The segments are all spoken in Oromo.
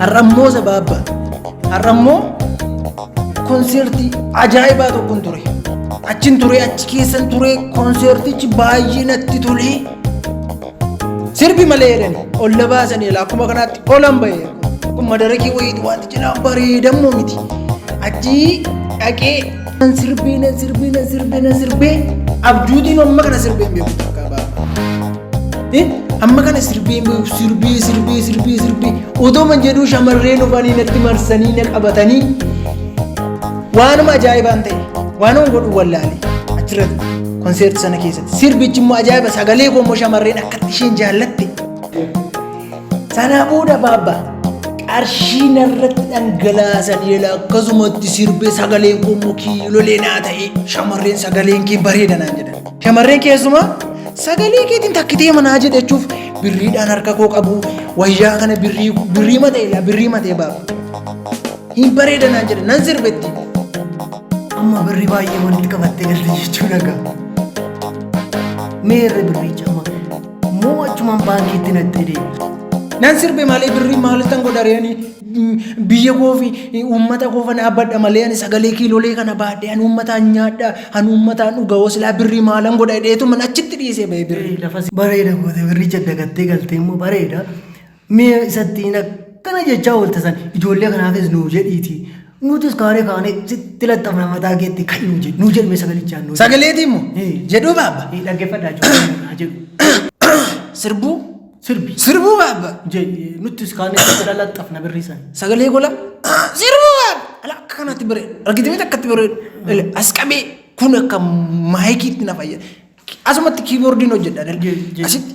Har'ammoo sabaabba. Har'ammoo konseertii ajaa'ibaa tokkon ture. Achin ture achi keessan ture konseertichi baay'ee natti tolee. Sirbi malee jedhan ol na baasanii ilaa akkuma kanaatti olan bahee kun madarakii wayiitu waanti cinaa bareedammoo miti. Achii dhaqee Nan sirbee nan sirbee nan sirbee nan sirbee abjuutiin amma kana sirbee hin beeku takka baaba. Amma kana sirbee hin beeku sirbee sirbee sirbee sirbee otoo man jedhuu shamarreen dhufanii natti marsanii na qabatanii waanuma ajaa'ibaan ta'e waanuma godhu wallaalee achirratti konseerti sana keessatti sirbichi immoo ajaa'iba sagalee koo immoo shamarreen akkatti isheen jaallatte. Sanaa booda baabba qarshii narratti dhangalaasan yeela akkasumatti sirbee sagaleen koo mukii lolee naa ta'e shamarreen sagaleen kee bareeda naan jedhan. Shamarreen keessumaa sagalee keetiin takkitee manaa jedhachuuf birriidhaan harka koo qabu wayyaa kana birrii birrii matee laa birrii matee baaba. Hin bareeda naan jedhan nan sirbetti. Amma birrii baay'ee walitti qabattee galte jechuudha gaa. Mee irra birricha amma Moo achumaan baankiitti natti hidhee. Nan sirbe malee birrii maalittan godha reeni biyya koo fi uummata koo kana abbadha malee ani sagalee kiilolee kana baadhee ani uummataan nyaadha ani uummataan dhuga hosilaa birrii maalan godha hidheetu man achitti dhiisee ba'e birrii. Bareeda goote birricha dagattee galtee immoo bareeda. Mee isa ittiin akkana jechaa oolta san ijoollee kanaafis nuu jedhiitii nutis kaaree kaanee sitti laxxafna mataa keetti ka'i nuu jedhi nuu jedhime sagalichaan nuu jedhi. Sagaleetii immoo Ee. jedhuu baabba. Ee, Dhaggeeffadhaa ijoollee naa jedhu. Sirbuu Sirbi. sirbuu baabba. Jedhi nuttis kaanee sitti laxxafna birrii san. Sagalee gola sirbuu baabba. Ala akka kanaatti bareedu. Argitee miti akkatti bareedu. Ele, As qabee kun akka maayikiitti na fayyada. Asumatti kiiboordiin hojjedha. Jee, jee. Asitti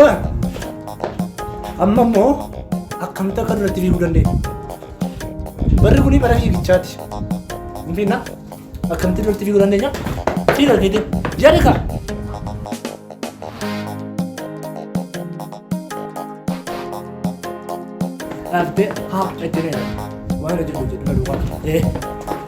Eh, Amma immoo akkamitti akka duratti fiiguu dandeenya? Barri kun bara fiigichaati. Hin fiigna? Akkamitti duratti fiiguu dandeenya? Fiiga keetiin. Jedhi kaa. Dhaabdee haa dhaggeera. Waan hojjetu hojjetu kan duwwaa. Eh.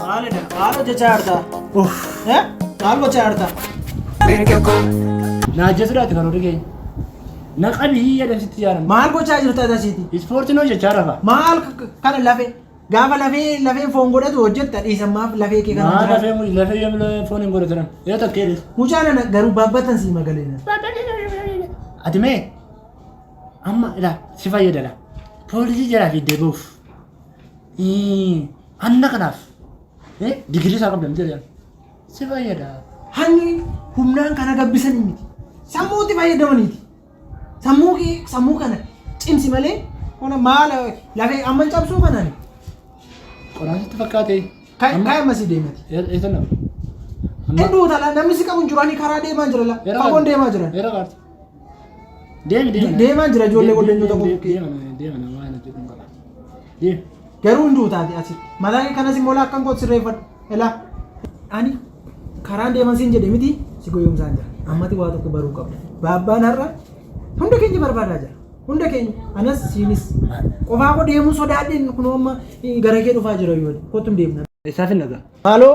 Maalidha? Maal hojjechaa jirta? Eh? Maal gochaa jirta? Naajjasuudhaati kan horii keenya. Naqabi hiyya dabsitti jaaran. Maal gochaa jirta tasiiti? Ispoortiin hojjechaa rafa. Maal kana lafee? Gaafa lafee lafee foon godhatu hojjetta dhiisan maaf lafee kee kana Maa hojjeta? lafee muli lafee yoo lafee foon hin godhatan. Yoo takkee dha. Mucaa nana garuu baabbatan sii magaleena. Ati mee amma ilaa si fayyadala. Poolisii jalaa fiiddee bahuuf. Hanna kanaaf digirii isaa qabdan jedhan si fayyada. Hanni humnaan kana gabbisan miti. Sammuutti fayyadamaniiti. Sammuu kee sammuu kana cimsi malee ona maala lafee amma cabsuu kanaan Qodaan sitti fakkaate. kan kan masii deemati. Eessa nama? Hedduu utaalaa namni si qabu hin jiru ani karaa deemaa jira la. Fagoon deemaa jiran. Eera kaarti. Deema deema. Deemaa jira ijoollee waldanyoota koo bukkee. Deema deema na waan hojjetu hin qaba. Deema. Garuu hin duutaati asi. Mataa kee kanas immoo laakkan koo sirreeffadhu. Elaa. Ani karaan deeman siin jedhe miti si goyoomsaan jira. Ammati waa tokko baruu qabda. Baabbaan har'a hunda keenya barbaadaa jira. Hunda keenya anas siinis qofaa koo deemuu sodaadheen kunoo amma eh, gara kee dhufaa jira yoo kottu hin deemna. Eessaaf hin dhagaa? Maaloo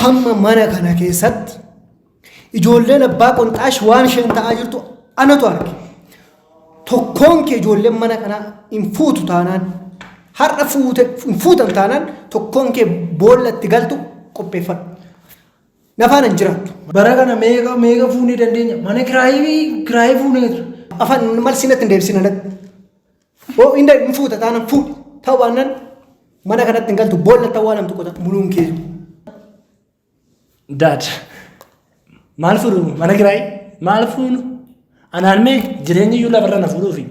Hamma mana kana keessatti ijoolleen abbaa qonxaash waan isheen ta'aa jirtu anatu arge. Tokkoon kee ijoolleen mana kanaa hin fuutu taanaan har'a fuute hin fuutan taanaan tokkoon kee boolla itti galtu qopheeffadhu. Nafaan hin jiraattu. Bara kana meeqa meeqa fuunee dandeenya? Mana kiraayii kiraayii fuuneetu. Afaan malsinatti hin deebisina. Boo inda hin fuuta taana fuudhi. Ta'u baannaan mana kanatti hin galtu boolla ta'uu waan tokko ta'a muluun kee. Daad maal fuudhu mana kiraayii maal fuudhu anaan mee jireenyi iyyuu lafarra na fuudhuufi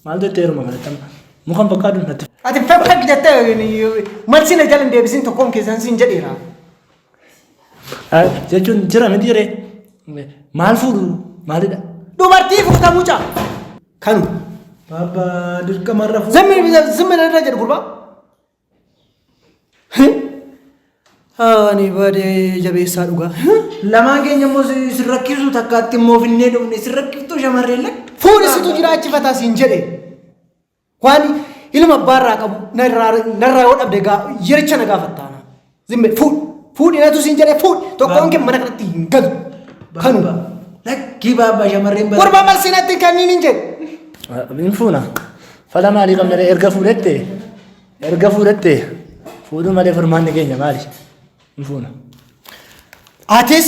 maal jettee yeruma kanatti amma mukan fakkaatu natti. Ati fakkak jettee malsi na jala hin deebisin tokkoon keessan siin jedheera. jechuun jira miti jedhee maal fuudhu maalidha dubartii fuuta mucaa kanu baaba dirqamarra fuudhu zimmi zimmi irra jedhu gurbaa ani baadee jabeessaa dhugaa lamaan keenya immoo sin rakkisu takkaatti immoo finnee dhufne sin rakkiftuu shamarree lakka fuudhisitu jiraachifata siin jedhe Waan ilma abbaa irraa qabu narraa narraa yoo dhabde gaa yericha na gaafattaana. Zimme fuudhi fuudhi natu siin jedhee fuudhi tokkoon kee mana kanatti hin galu. Kanu Lakkii baabaa shamarreen bara. gurbaa marsii natti hin kenniin hin jedhu. Min fuuna. Fala maalii qabna ree? erga fuudhette erga fuudhette fuudhuu malee furmaanni keenya maali? Min fuuna. Atis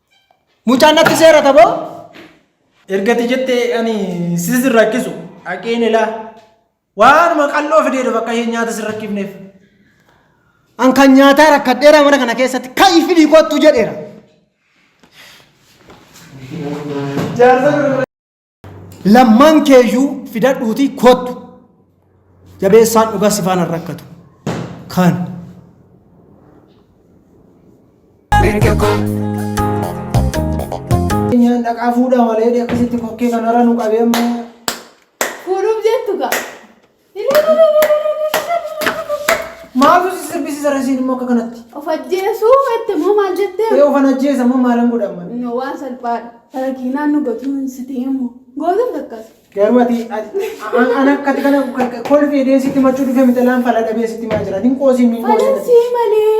Mucaan natti seerata boo ergati jettee ani sis hin rakkisu haqeen ilaa waanuma qal'oo fidee dhufa akka isheen nyaata sin rakkifneef. An kan nyaataa rakkadheera mana kana keessatti ka'i fidii kottu jedheera. Jaarsa Lammaan keeyyuu fidadhuutii kottu. Jabeessaan dhugaa si faana rakkatu. Kan. Nyaan dhaqaa fuudhaa malee akkasitti kokkee kanarra nu qabee amma. Kuulum jettu gaa. Maaltu si sirbisiisa rasiin immoo akka kanatti? Of ajjeesuu jette moo maal jettee? Ee ofan ajjeesa moo maalan godhan malee? No waan salphaadha. Farakiinaan nu gotuun si ta'e immoo. Gootuun takkas. Garuu ati ati- an an akkati kana kolfee deesitti machuu dhufee mitalaan fala dhabee sitti maa jira. Hin qoosiin hin qoosiin. Falansii malee.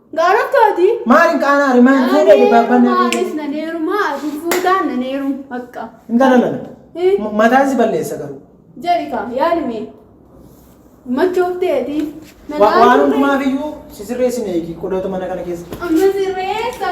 Gaaratti hojii. Maal hin qaanaa rimaan fuudhee dibaabbaan na Maanis na neerumaa ati fuudhaan na neerum akka. hin galalame. Eh. M- Mataan si balleessa garuu. Jarika yaalime. Machoofteeti. Wa- Waan hundumaaf iyyuu si sirreessine eegi qodootu mana kana keessa. Amma sirreessa.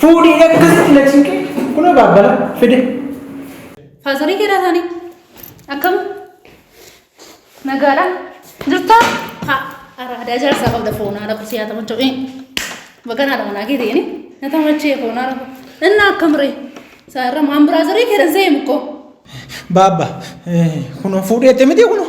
Fuudhii akkasitti na cinqe. Kunoo baabbala fide. Faazarii keeraa isaanii akkam nagaadha jirtaa ha araadaa jaarsaa qabda foonaa lafa siyaa tamachoo ee baganaa dha manaa keetii inni na tamachee foonaa lafa inni akkam ree isaa irra maan biraazarii keeran seemu koo Baabba kunoo fuudhii ette miti kunoo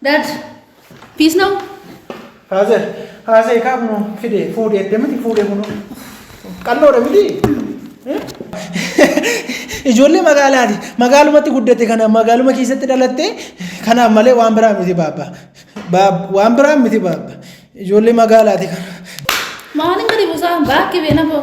Dad, peace now? Haazee, haazee kaa kunoo fidee fuudhee edde miti fuudhee kunoo. Qalloodha miti. Ijoollee magaalaati. Magaalumatti guddatte kana magaaluma keessatti dhalatte kanaaf malee waan biraa miti baabba. Baab- Waan biraa miti baabba. Ijoollee magaalaati kana. Maalin gadi buusaa? Baakki beenafoo.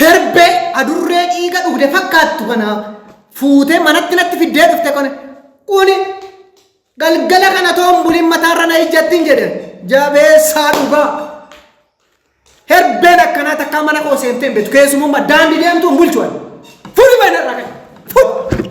Herbee adurree dhiiga dhugde fakkaattu kana fuutee manatti natti fiddee dhufte kone kuni galgala kana toon buliin mataarra na ijjattiin jedhe jabeessaa dhugaa herbeen akkanaa takkaa mana koo seentee hin beektu keessumummaa daandii deemtu hin bulchu ani fuudhi mana irraa kan fuudhi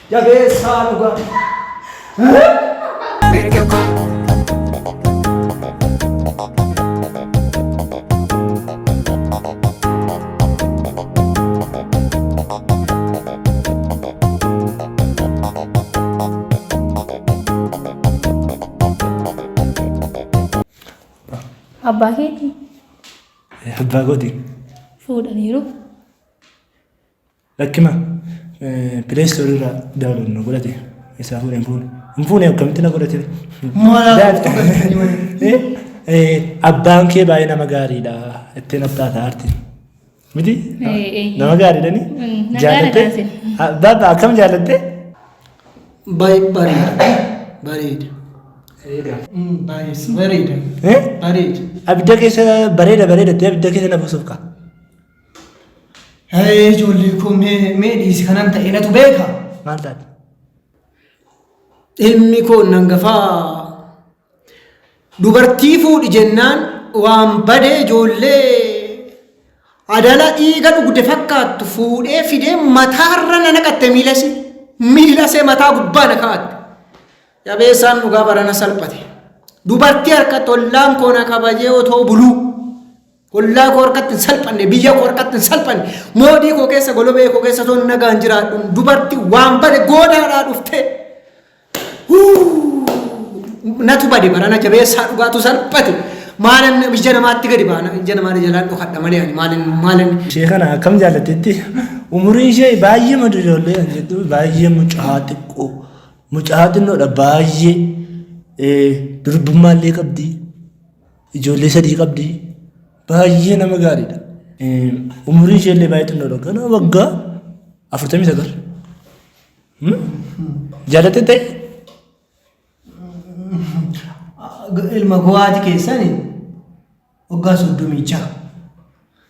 Jabeessaa Abbaa keetii? Abbaa kooti. Fuudhaniiru. Lakkima play store irraa download nu godhate isaa fuudhe hin fuune hin fuune akkamitti na godhate abbaan kee baay'ee nama gaariidha itti naftaa taa'arti miti nama gaariidha ni jaalatte baaba akkam jaalatte baay'ee bareeda bareeda bareeda bareeda abidda keessa bareeda bareeda itti abidda keessa na buusuuf kaa Hee ijoollee koo mee mee dhiisi kanan ta'e natu beeka. Maal taate? Ilmi koo nan gafaa dubartii fuudhi jennaan waan badee ijoollee adala dhiiga dhugde fakkaattu fuudhee fidee mataarra na naqatte miilasi miilasee mataa gubbaa na kaa'atte. Jabeessaan dhugaa barana salphate. Dubartii harka tollaan koo na kabajee otoo buluu. Ollaa koo harkatti hin salphanne, biyya koo harkatti hin salphanne, moodii koo keessa golobee koo keessa osoo nagaan jiraadhu dubarti waan bade goodaadhaa dhuftee. Natu bade barana jabeessaa dhugaatu salphate. Maalan ija namaatti gadi baana, ija namaa jalaan dhokadha malee ani maalan maalan. Ishee kana akkam jaallatetti umuriin ishee baay'ee madu ijoollee kan jettu baay'ee mucaa xiqqoo mucaa xinnoodha baay'ee durbummaa illee qabdi Ijoollee sadii qabdi. Baay'ee nama gaariidha. Umuriin ishee illee baay'ee xinnoodha. Ganaa waggaa afurtamii sagal. Jaalatte ta'e? Ilma gowaati keessani waggaa soddomii jaha.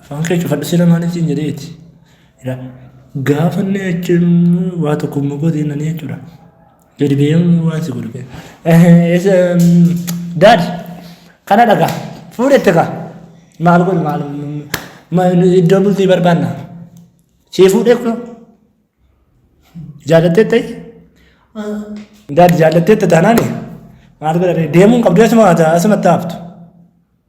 Afaan kee cufadhu sila maaliif siin jedheeti. Ila gaafa inni jechuun waa tokko immoo godhe nani jechuudha. Gadi ba'ee waan si godhu kee. Daad kana dhagaa fuudhette kaa maal godhu maal iddoo bultii barbaanna. Sii fuudhee kunoo jaallattee ta'e. Daad jaallattee ta'e taanaani maal godha deemuun qabdu asuma asumatti haftu.